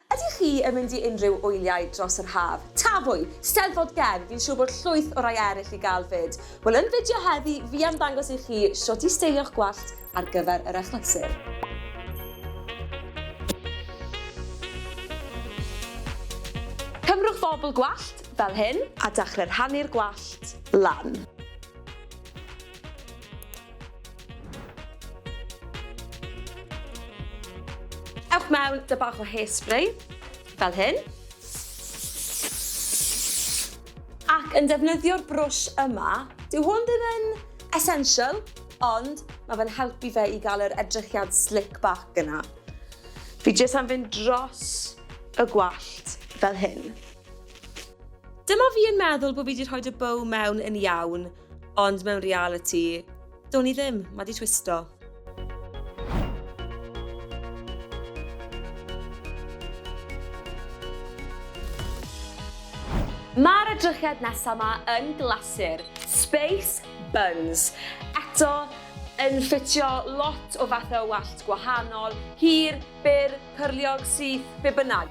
Ydych chi yn mynd i unrhyw wyliau dros yr haf? Tafwyl! Steddfod Gen! Fi'n siwr bod llwyth o rai eryll i gael 'fyd. Wel yn fideo heddi fi am ddangos i chi shwt i steilio'ch gwallt ar gyfer yr achlysur. Cymrwch fobl gwallt, fel hyn, a dachre rhannu'r gwallt lan. Ewch mewn dy bach o hairspray, fel hyn. Ac yn defnyddio'r brwsh yma, dyw hwn ddim yn essential, ond mae fe'n helpu fe i gael yr edrychiad slick back yna. Fi jyst am fynd dros y gwallt fel hyn. Dyma fi yn meddwl bod fi wedi rhoi dy bow mewn yn iawn, Ond mewn realiti, do'n i ddim, ma di twisto. Mae'r edrychiad nesaf yma yn glasur, Space Buns. Eto, yn ffitio lot o fathau o wallt gwahanol, hir, byr, Pyrliog syth be bynnag.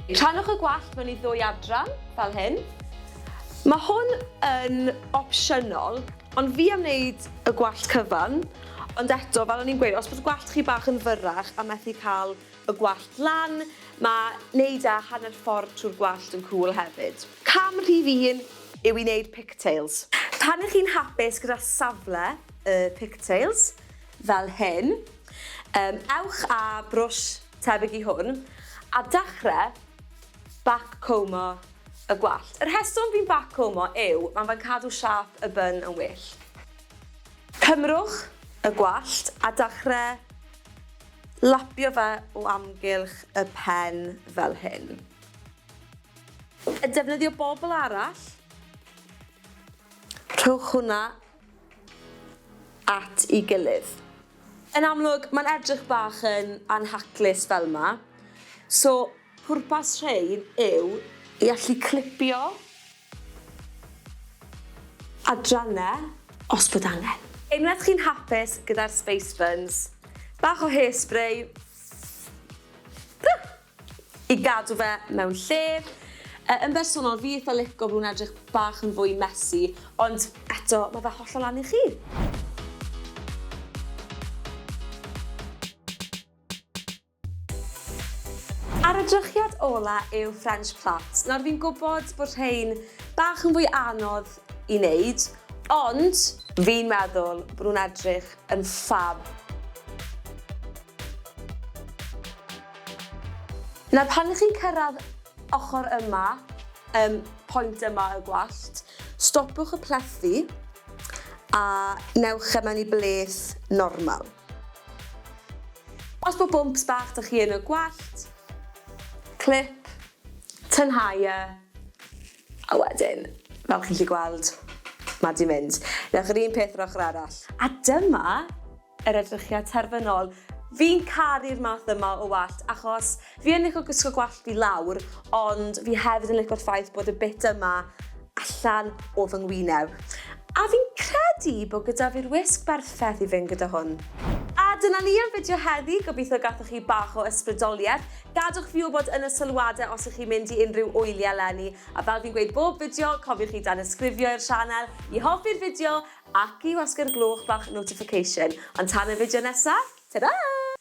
Rhannwch y gwallt mewn i ddwy adran, fel hyn. Mae hwn yn opsiynol, ond fi am wneud y gwallt cyfan, ond eto, fel o'n i'n gweud, os bod gwallt chi bach yn fyrrach a methu cael Y gwallt lan, mae 'neud â hanner ffordd trwy'r gwallt yn cŵl hefyd. Cam rhif un yw i 'neud pigtails. Pan ych chi'n hapus gyda safle y pigtails, fel hyn, yym ewch â brwsh tebyg i hwn a dachre backcombio y gwallt. Y rheswm fi'n backcombio yw mae fe'n cadw siâp y bun yn well. Cymrwch y gwallt a dachre Lapio fe o amgylch y pen fel hyn. A defnyddio bobl arall. Rhowch hwnna at i gilydd. Yn amlwg, mae'n edrych bach yn anhaclus fel 'ma. So, pwrpas rhein yw i allu clipio. Adrannau, os bod angen. Unwaith chi'n hapus gyda'r space buns, bach o hairspray i gadw fe mewn lle. Yn bersonol, fi eitha lico fe, mae'n edrych bach yn fwy messy, ond eto, mae fe hollol lan i chi. A'r edrychiad ola yw French Plaits. Nawr fi'n gwybod bod rhein bach yn fwy anodd i wneud, ond fi'n meddwl bod nhw'n edrych yn ffab. Nawr pan ych chi'n cyrraedd ochr yma, um, pwynt yma y gwallt, stopwch y plethu a newch e mewn i bleth normal. Os bod bwmps bach 'da chi yn y gwallt, clip, tynhau e, a wedyn, fel chi'n gallu gweld, mae 'di mynd. Newch yr un peth yr ochr arall. A dyma yr edrychiad terfynol. Fi'n caru'r math yma o wallt achos Fi yn lico gwisgo gwallt fi lawr, ond fi hefyd yn lico'r ffaith bod y bit yma allan o fy ngwyneb. A fi'n credu bod gyda fi'r wisg berffaith i fynd gyda hwn. A dyna ni am fideo heddi, gobeithio gathoch chi bach o ysbrydolieth. Gadwch fi wybod yn y sylwadau os ych chi'n mynd i unrhyw wyliau eleni, a fel fi'n gweud bob fideo, cofiwch i danysgrifio i'r sianel, i hoffi'r fideo, ac i wasgu'r gloch bach notification. Ond tan y fideo nesaf, ta-ra!